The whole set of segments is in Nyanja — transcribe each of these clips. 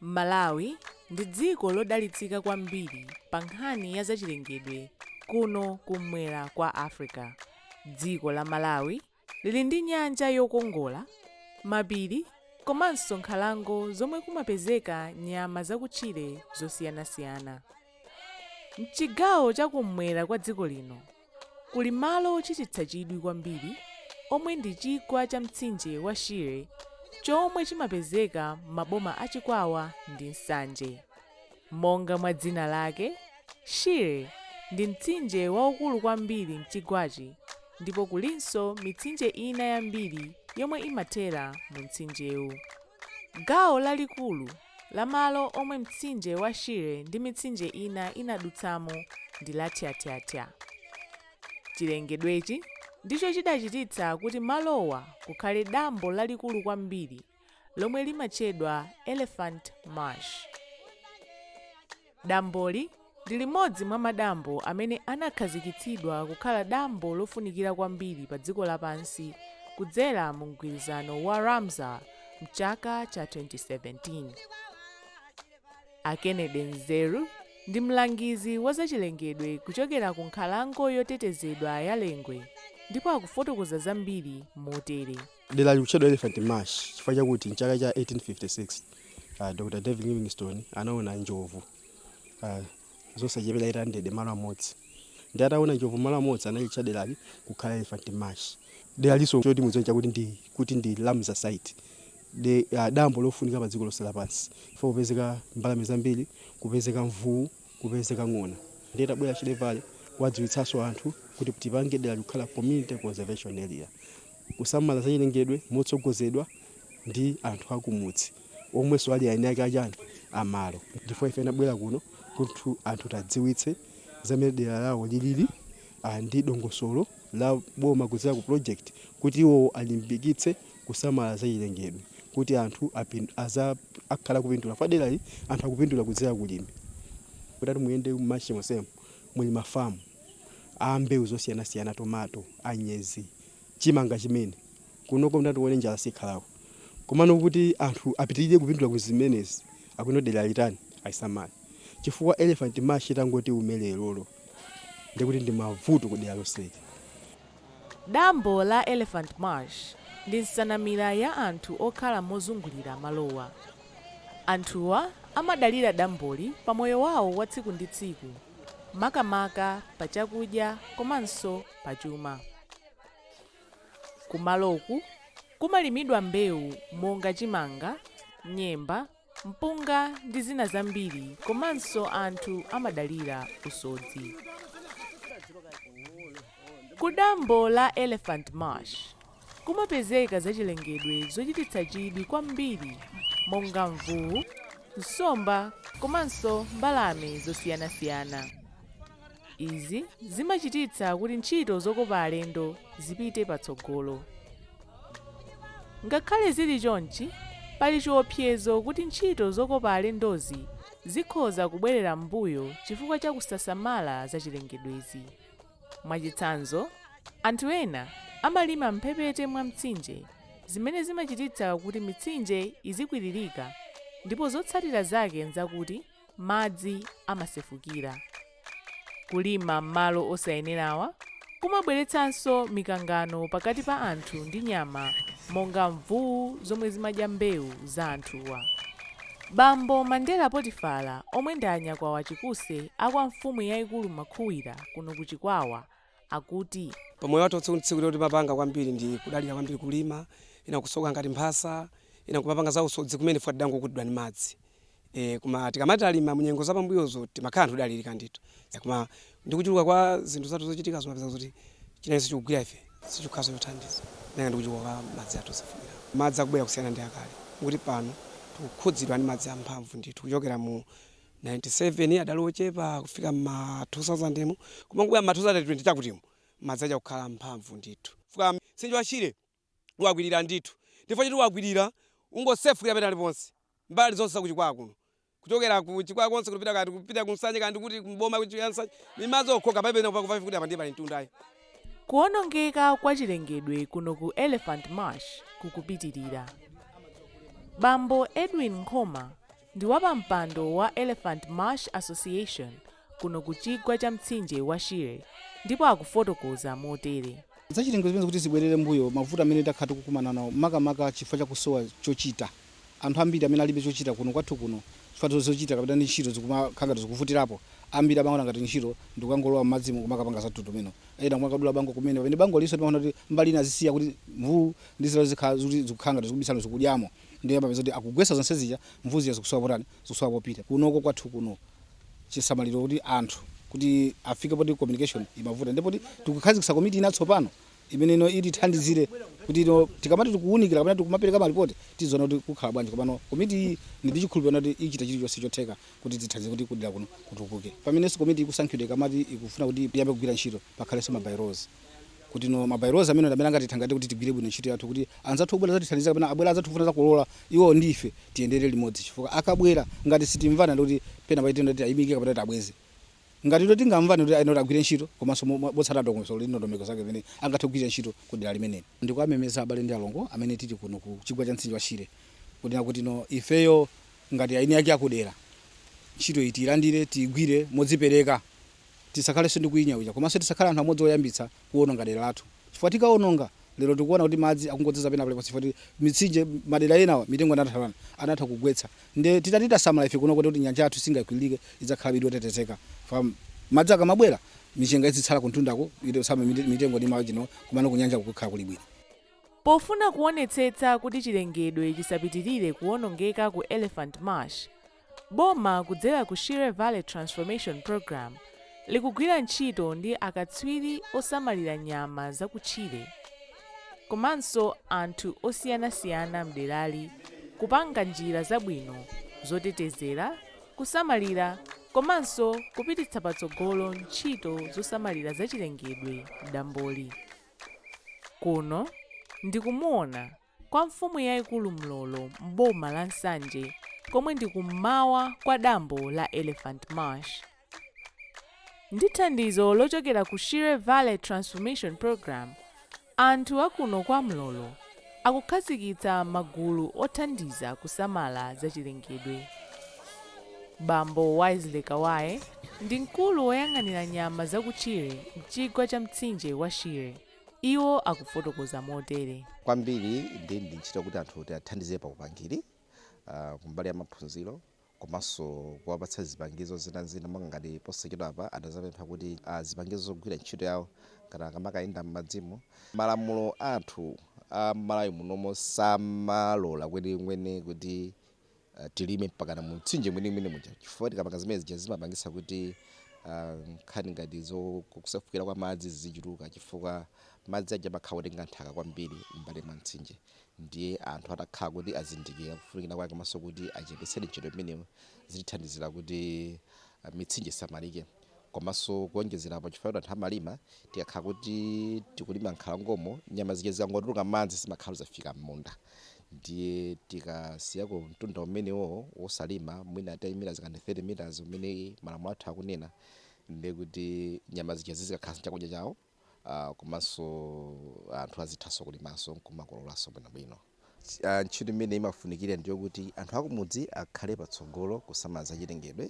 Malawi ndi dziko lodalitsika kwambiri pa nkhani ya zachilengedwe kuno kummwera kwa Africa. Dziko la Malawi Lili ndi nyanja yokongola, mapiri komanso nkhalango zomwe kumapezeka nyama zakutchire zosiyanasiyana. M'chigawo cha kum'mwera kwa dziko lino kuli malo ochititsa chidwi kwambiri omwe ndi chigwa cha mtsinje wa Shire chomwe chimapezeka m'maboma a Chikwawa ndi Nsanje. Monga mwa dzina lake, Shire ndi mtsinje waukulu kwambiri m'chigwachi ndipo kulinso mitsinje ina yambiri yomwe imathera mumtsinjewu. Gawo lalikulu la malo omwe mtsinje wa Shire ndi mitsinje ina inadutsamo ndi lathyathyathya. Chilengedwechi ndicho chidachititsa kuti malowa kukhale dambo lalikulu kwambiri. lomwe limatchedwa Elephant Marsh. Damboli ndi limodzi mwa madambo amene anakhazikitsidwa kukhala dambo lofunikira kwambiri padziko lapansi kudzera mu mgwirizano wa Ramsar m'chaka cha 2017. A Kennedy Nzeru ndi mlangizi wa zachilengedwe kuchokera ku nkhalango yotetezedwa ya Lengwe ndipo akufotokoza zambiri motere. Derali likutchedwa Elephant Marsh chifukwa chakuti m'chaka cha 1856, a Dr. David Livingstone anaona njovu a, zosachepera 800 m'malo amodzi. Ndiye ataona njovu m'malo amodzi analitcha derali kukhala Elephant Marsh. Deralinso choti mudziwe n'chakuti ndi kuti ndi Ramsar Site, de, a, dambo lofunika padziko lonse lapansi chifukwa kupezeka mbalame zambiri, kupezeka mvuwu. kupezeka ng'ona ndiye tabwera chilevale kuwadziwitsaso anthu kuti tipange derali kukhala community conservation area kusamala zachilengedwe motsogozedwa ndi anthu akumudzi omweso ali aeni ake achani amalo ndifukwa ife tinabwera kuno kuti anthu tadziwitse za mmene dera lawo lilili ndi dongosolo la boma kudzera ku project kuti iwowo alimbikitse kusamala zachilengedwe kuti anthu akhale akupindula chifukwa derali anthu akupindula kudzera ku ulimi. Mutati muyende mu Marsh monsemu muli ma farm a mbewu zosiyanasiyana, tomato, anyezi, chimanga chimene. Kunoko mutati muone njala sikhalako. Komano kuti anthu apitirire kupindula ku zimenezi akuno derali atani? Alisamale. Chifukwa Elephant Marsh itangoti iume lerolo. ndiye kuti ndi mavuto ku dera lonseli. Dambo la Elephant Marsh ndi nsanamira ya anthu okhala mozungulira malowa. Anthuwa amadalira damboli pa moyo wawo wa tsiku ndi tsiku, makamaka pa chakudya komanso pa chuma. Kumaloku kumalimidwa mbewu monga chimanga, nyemba, mpunga ndi zina zambiri komanso anthu amadalira usodzi. Ku dambo la Elephant Marsh kumapezeka zachilengedwe zochititsa chidwi kwambiri monga mvuwu, nsomba komanso mbalame zosiyanasiyana. Izi zimachititsa kuti ntchito zokopa alendo zipite patsogolo. Ngakhale zili chonchi, pali chiopsezo kuti ntchito zokopa alendozi zikhoza kubwerera m'mbuyo chifukwa cha kusasamala zachilengedwezi. Mwachitsanzo, anthu ena amalima m'mphepete mwa mtsinje zimene zimachititsa kuti mitsinje izikwiririka ndipo zotsatira zake n'zakuti madzi amasefukira. Kulima m'malo osayenerawa kumabweretsanso mikangano pakati pa anthu ndi nyama monga mvuwu zomwe zimadya mbewu za anthuwa. Bambo Mandela Potifala omwe ndi a Nyakwawa Chikuse a kwa mfumu yaikulu Makhuwira kuno ku Chikwawa akuti. Pa moyo wathu watsiku ndi tsiku timapanga kwambiri ndi kudalira kwambiri kulima, ena kusoka ngati mphasa, ena kumapanga za usodzi kumene chifukwa tidangokutidwa ndi madzi. E, koma tikamati talima munyengo za pambuyozo timakhala anthu odalirika ndithu. E, koma ndi kuchuluka kwa zinthu zathu zochitika zimapeza kuti chimenenso chikugwira ife sichikukhalanso chothandiza malinga ndi kuchuluka kwa madzi athu osefukira. Madzi akubwera kusiyana ndi akale, moti pano tikukhudzidwa ndi madzi amphamvu ndithu, kuchokera mu. 97 adali ochepa kufika m'ma 2000 mu koma kubwera m'ma 2020 chakutimu madzi aja kukhala mphamvu ndithu chifukwa mtsinje wa Shire wakwirira ndithu ndi chifukwa choti wakwirira ungosefukira pena paliponse mbali zonse za ku Chikwawa kuno kuchokera ku Chikwawa konse kupita kaya tikupita ku Nsanje kaya ndikuti kuboma ku Nsanje ni madzi okhaokha palibe pena pakupafupi kuti apa ndiye pali mtunda ayi. Kuonongeka kwa chilengedwe kuno ku Elephant Marsh kukupitirira. Bambo Edwin Nkhoma Ndi wapampando wa Elephant Marsh Association kuno ku chigwa cha mtsinje wa Shire ndipo akufotokoza motere. Zachilengedwe zimenezi kuti zibwerere m'mbuyo mavuto amene takhala tikukumana nawo makamaka chifukwa cha kusowa chochita. Anthu ambiri amene alibe chochita kuno kwathu kuno chifukwa zochita kapena ndi ntchito zikumakhala ngati zikuvutirapo, ambiri amaona ngati ntchito ndi kukangolowa m'madzimo n'kumakapanga za mtundu umenewo. Ena kumakadula bango kumene pamene bangolinso timaona kuti mbali ina azisiya kuti mvuwu ndi zina zikhala zikuti zikukhala ngati zikubisala zikudyamo. Ndiye amapeza kuti akugwetsa zonse zija, mvuu zija zikusowa potani, zikusowa popita. Kunoko kwathu kuno chisamaliro kuti anthu kuti afike poti communication imavuta ndipo kuti tikukhazikitsa komiti ya tsopano imene no itithandizire kuti no tikamati tikuwunikira kapena tikumapereka maripoti tiziona kuti zikukhala bwanji komano komiti iyi ndi ndi chikhulupiriro kuti ichita chilichonse chotheka kuti tithandize kuti kudera kuno kutukuke pamenenso komiti ikusankhidwa ikamati ikufuna kuti iyambe kugwira ntchito pakhalenso mabylaws kuti no mabylaws amene amene angatithangatire kuti tigwire bwino ntchito yathu kuti anzathu obwera kudzatithandiza kapena abwera anzathu kufuna zakolola iwo ndi ife tiyendere limodzi chifukwa akabwera ngati sitikumvana ndi kuti pena paite ndoti ayimike kapena kuti abweze ngati ndo tingamvane kuti ayenera kuti agwire ntchito komanso mo- mo- motsata dongosolo ndi ndondomeko zake zimene angathe kugwira ntchito ku dera limeneli ndikuwamemeza abale ndi alongo amene tili kuno ku chigwa cha mtsinje wa shire kunena kuti no ifeyo ngati eni ake akudera ntchito iyi tiyilandire tiyigwire modzipereka tisakhalenso ndi kunyinyirika komanso tisakhale anthu amodzi oyambitsa kuononga dera lathu chifukwa tikaononga lero tikuona kuti madzi akungodzaza pena paliponse chifukwa ti- mitsinje madera enawa mitengo anatha anatha kugwetsa nde titati tasamala ife kuno kuti kuti nyanja yathu isakwiririke idzakhalabe ili yotetezeka fa madzi akamabwera michenga izitsala kumtundako itosama mitengo ndi machani kumano kunyanja kukhala kuli bwino Pofuna kuonetsetsa kuti chilengedwe chisapitirire kuwonongeka ku Elephant Marsh, Boma kudzera ku Shire Valley Transformation Programme likugwira ntchito ndi akatswiri osamalira nyama zakutchire komanso anthu osiyanasiyana mderali kupanga njira zabwino zotetezera, kusamalira komanso kupititsa patsogolo ntchito zosamalira zachilengedwe mdamboli. Kuno ndi ku Muona. kwa mfumu yaikulu Mlolo m'boma la Nsanje komwe ndi kum'mawa kwa dambo la Elephant Marsh. Ndi thandizo lochokera ku Shire Valley Transformation Program, anthu a kuno kwa Mlolo akukhazikitsa magulu othandiza kusamala zachilengedwe. Bambo Wisely Kawaye ndi mkulu woyang'anira nyama zakutchire m'chigwa cha mtsinje wa Shire. Iwo akufotokoza motere. Kwambiri ndi ndi ntchito kuti anthu tiwathandize pa upangiri ah, kumbali ya maphunziro komanso kuwapatsa zipangizo zinazina monga ngati posachedwa apa adazapempha kuti ah, zipangizo zogwira ntchito yawo ngati akamakayenda m'madzimo. Malamulo athu a Malawi munomo samalola kwenikweni kuti uh, tilime mpakana mu mtsinje mwenimweni muja chifukwa tikapanga zimene zija zimapangisa kuti uh, nkhani ngati zokusefukira kwa madzi zizichuluka chifukwa madzi aja amakhala otenga nthaka kwambiri m'mbali mwa mtsinje ndiye anthu atakhala kuti azindikira kufunikira kwake komanso kuti achepetsere ntchito imeneyo zitithandizira kuti uh, mitsinje isamalike Komanso kuonjezera apo chifukwa kuti anthu amalima tikakhala kuti tikulima nkhalangomo nyama zija zikangotuluka m'madzi zimakhala zafika m'munda ndiye tikasiyako mtunda umenewowo wosalima mwina 30 meters kapena 30 meters umene malamulo athu akunena ndiye kuti nyama zija zizikakhala chakudya chawo. Komanso anthu azithanso kulimanso n'kumakololanso bwinobwino. Ntchito imene imafunikira ndi yokuti anthu akumudzi akhale patsogolo kusamala zachilengedwe.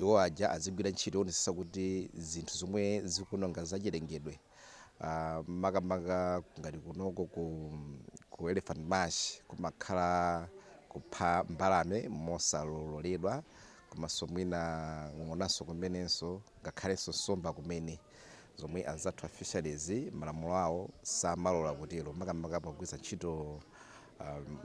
Iwo aja azigwira ntchito yoonetsetsa kuti zinthu zomwe zikuononga zachilengedwe makamaka ngati kunoko ku Elephant Marsh kumakhala kupha mbalame mosaloledwa komanso mwina ng'onanso kumenenso ngakhalenso nsomba kumene. zomwe anzathu a fisheries malamulo awo samalola kutero makamaka pogwiritsa ntchito um,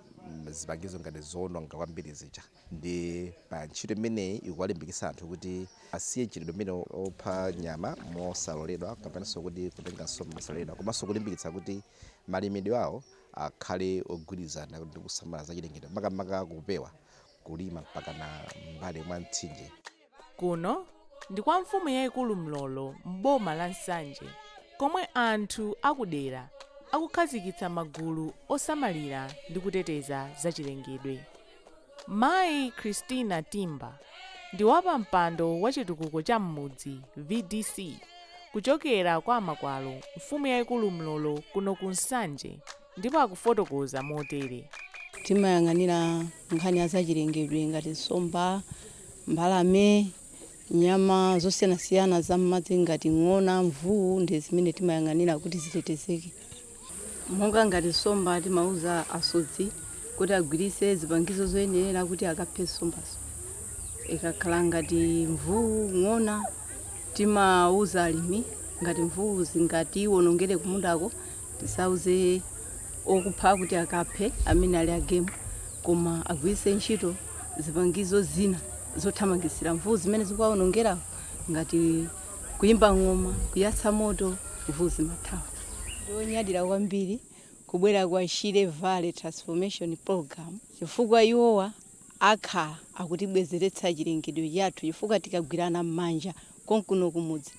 zipangizo ngati zoononga kwambiri zija ndiye ntchito imeneyi ikuwalimbikitsa anthu kuti asiye mchitidwe umenewu opha nyama mosaloledwa kapenanso kuti kutenga nsomba mosaloledwa komanso kulimbikitsa kuti malimidwe awo akhale ogwirizana ndi kusamala za chilengedwe makamaka kupewa kulima mpakana m'mbali mwa mtsinje Kuno ndi kwa mfumu yaikulu Mlolo m'boma la Nsanje komwe anthu akudera akukhazikitsa magulu osamalira ndi kuteteza zachilengedwe. Mayi Christina Timba ndi wapampando wa chitukuko cha m'mudzi, VDC, kuchokera kwa a Makwalo mfumu yaikulu Mlolo kuno ku Nsanje. ndipo akufotokoza motere. Timayang'anira nkhani ya zachilengedwe ngati nsomba, mbalame, nyama zosiyanasiyana za m'madzi ngati ng'ona, mvuu ndi zimene timayang'anira kuti zitetezeke. Monga ngati nsomba, timauza asodzi kuti agwiritse zipangizo zoyenerera kuti akaphe nsombazo. Ikakhala ngati mvuu, ng'ona. Timauza alimi ngati mvuu zingatiwonongere kumundako, tisauze okupha kuti akaphe amene ali a game koma agwiritse ntchito zipangizo zina zothamangitsira mvuu zimene zikuwawonongera ngati kuimba ng'oma, kuyatsa moto, mvuu zimathawa. Ndi onyadira kwambiri kubwera kwa Shire Valley Transformation Program chifukwa iwowa akhala akutibwezeretsa chilengedwe chathu chifukwa tikagwirana mmanja konkuno kumudzi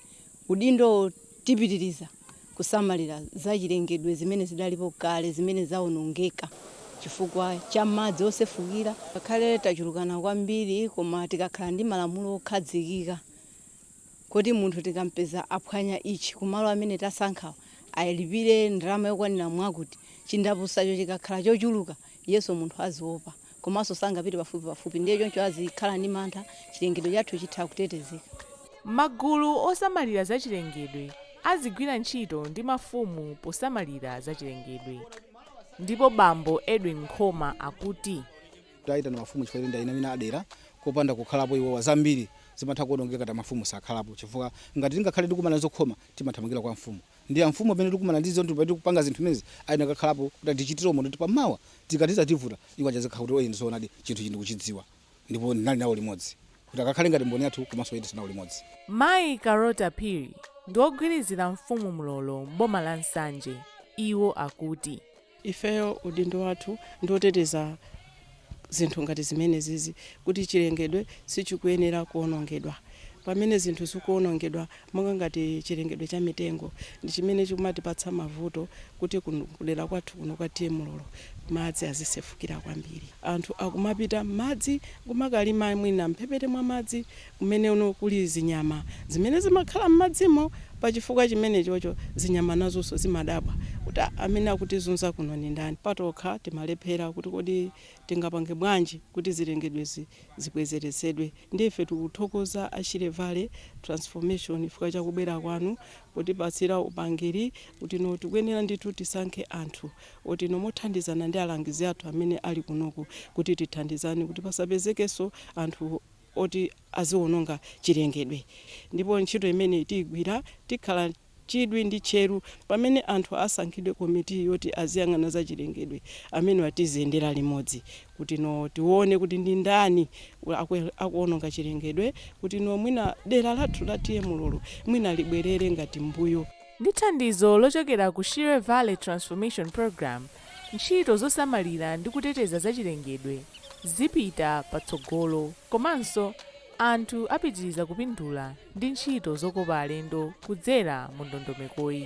udindowo tipitiriza kusamalira za chilengedwe zimene zidalipo kale zimene zaonongeka chifukwa cha madzi osefukira ngakhale tachulukana kwambiri koma tikakhala ndi malamulo okhazikika kuti munthu tikampeza aphwanya ichi kumalo amene tasankhawa alipire ndalama yokwanira mwakuti chindapusacho chikakhala chochuluka Iyenso munthu aziopa komanso sangapite pafupipafupi ndiye choncho azikhala ndi mantha, chilengedwe chathu chitha kutetezeka. Magulu osamalira zachilengedwe azigwira ntchito ndi mafumu posamalira zachilengedwe. Ndipo bambo Edwin Nkhoma akuti. Taitana mafumu chifukwa choti ndi eni ake a dera, kopanda kukhalapo iwowa zambiri zimatha kuonongeka ngati mafumu sakhalapo chifukwa ngati tingakhale ndi kukumana ndi zokhoma timathamangila kwa mfumu. ndi amfumu amene tikumana ndi zinthu pamene tikupanga zinthu zimenezi ayenera kukakhalapo kuti atichitire umboni kuti pamawa tikati zativuta iwo aja azikhala kuti oyeni zoonadi chinthu ichi ndikuchidziwa ndipo ndinali nawo limodzi kuti akakhale ngati mboni yathu komanso oyendetsa nawo limodzi Mayi Karota Phiri ndi wogwirizira mfumu Mlolo m'boma la Nsanje. Iwo akuti Ifeyo udindo wathu ndi oteteza zinthu ngati zimenezizi kuti chilengedwe sichikuyenera kuonongedwa. Pamene zinthu zikuonongedwa monga ngati chilengedwe cha mitengo ndi chimene chikumatipatsa mavuto kuti kudera kwathu kuno kwa TA Mlolo madzi azisefukira kwambiri. Anthu akumapita m'madzi nkumakalima mwina m'mphepete mwa madzi kumeneko kuli zinyama zimene zimakhala m'madzimo. Pa chifukwa chimenechocho zinyama nazonso zimadabwa kuti, ah, amene akutizunza kuno ndi ndani? Patokha timalephera kuti kodi tingapange bwanji kuti zilengedwezi zibwezeretsedwe. Ndiye ife tikuthokoza a Shire Valley Transformation chifukwa cha kubwera kwanu potipatsira upangiri kuti no tikuyenera ndithu tisankhe anthu oti no mothandizana ndi alangizi athu amene ali kunoku kuti tithandizane kuti pasapezekenso anthu oti aziwononga chilengedwe. Ndipo ntchito imeneyi tiigwira tikhala chidwi ndi tcheru. Pamene anthu asankhidwe komiti yoti aziyang'ana za chilengedwe, amenewa tiziyendera limodzi kuti no tione kuti ndi ndani akuwononga chilengedwe kuti no mwina dera lathu la TA Mlolo mwina libwerere ngati m'mbuyo. Ndi thandizo lochokera ku Shire Valley Transformation Programme, ntchito zosamalira ndi kuteteza zachilengedwe zipita patsogolo komanso anthu apitiriza kupindula ndi ntchito zokopa alendo kudzera mu ndondomekoyi.